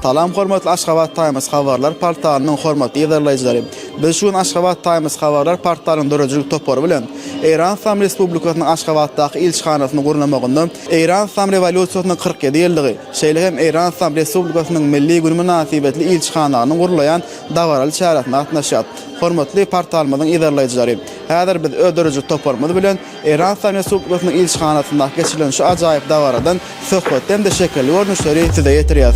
Salam hormatly Aşgabat Times habarlar portalynyň hormatly ýazarlaýjylary. Biz şu gün Aşgabat Times habarlar portalynyň döredijilik topary bilen Eýran Islam Respublikasynyň Aşgabatdaky ilçihanasyny gurnamagynda Eýran Islam rewolýusiýasynyň 47 ýyllygy, şeýle hem Eýran Islam Respublikasynyň milli güni mynasybetli ilçihananyň gurulaýan dabaraly çäresine gatnaşýar. Hormatly portalymyzyň ýazarlaýjylary, häzir biz öz döredijilik toparymyz bilen Erhanistan Respublikasynyň ilçihanasynda geçirilen şu ajaýyp dabaradan söhbetli hem-de şekilli görnüşleri size ýetirýäs.